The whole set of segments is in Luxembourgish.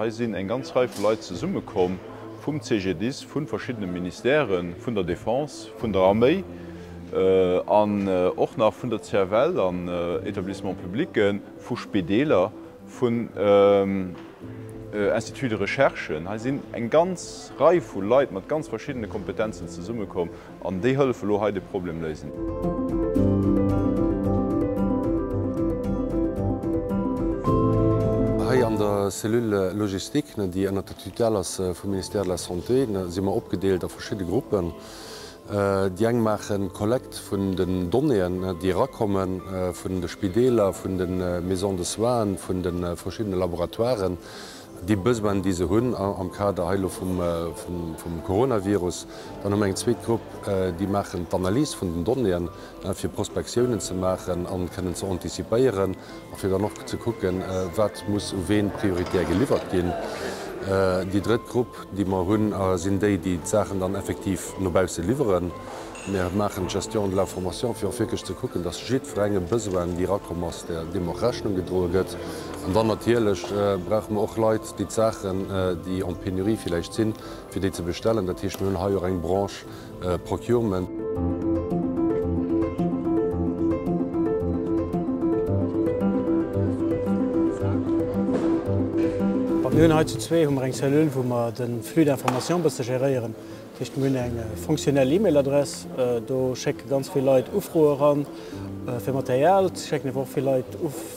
Hei sinn eng ganz Rei vu Leit zesummekomm, vum CGDIS, vu verschiddene Ministèren, vun der Defense, vun der Arméi an och nach vun der CFL an Etablissements publics, vu Spideeler. vun Instituts de recherche. Hei sinn eng ganz Rei vu Leit mat ganz verschiddene Kompetenzen zesummekomm an déi hëllefe elo hei de Problem léisen. Hei an der Cellule logistique, déi ënner der Tutelle ass vum Ministère de la Santé, si mer opgedeelt a verschidde Gruppen. Déi eng maachen d'Kollekt vun den Donnéeën, déi erakomme vun de Spideeler, vun de Maisons de soins, vun de verschiddene Laboratoiren, déi Besoinen, déi se hunn am Kader hei elo vum Coronavirus. Dann hu mer eng zweet Grupp, déi maachen d'Analys vun den Donnéeën, fir Prospektiounen ze maachen a kënnen ze anticipéieren. a fir dann och ze kucken, wat muss u ween prioritär geliwwert ginn. Déi drëtt Grupp, déi mer hunn, sinn déi, déi d'Saachen dann effektiv no bausse liwweren. Mir maachen d'Gestion de l'information, fir och wierklech ze kucken, dass jiddwerengem Besoin, déi erakomm ass, deem och Rechnung gedroe gëtt. An dann natierlech brauche mer och Leit, déi d'Saachen, déi en pénurie villäicht sinn, fir déi ze bestellen. Dat heescht, mir hunn hei och eng Branche, Procurement. Mir hunn hei zu zwee hu mer eng Cellule, wou mer de Flux d'information e bësse géréieren. Dat heescht, mir hunn eng fonctionnel E-Mail-Adress. Do schécke ganz vill Leit Ufroe ran fir Material, et schécken awer och vill Leit.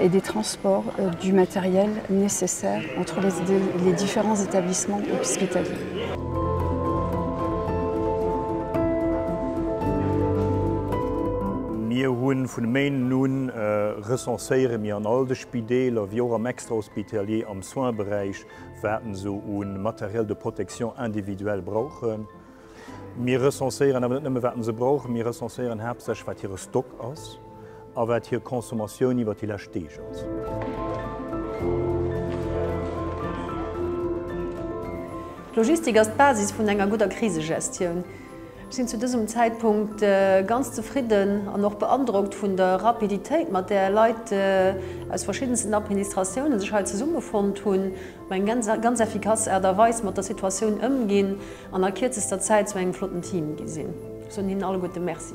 et des transports du matériel nécessaire entre les différents établissements hospitaliers. Mir hu vun e Méinden u recenséiere mir an all de Spideeler, wéi och am Extra-hospitalier, am Soins-Beräich, wat en esou u Matériel de protection individuelle brauchen. Mir recenséieren awer net nëmme wat se brauch, mir recenséieren haaptsächlech wat hire Stock ass a wat hir Consommatioun iwwert déi lescht Deeg ass. D'Logistik ass d'Basis vun enger gudder Krisegestioun. Ech sinn zu dësem Zäitpunkt ganz zefridden an och beandrockt vun der Rapiditéit, mat där Leit aus verschiddensten Administratiounen sech hei zesummefonnt hunn. Eng ganz effikass Aart a Weis mat der Situatioun ëmginn an a kierzester Zäit zu engem flotten Team gi sinn. Ech soen hinnen alleguerte Merci.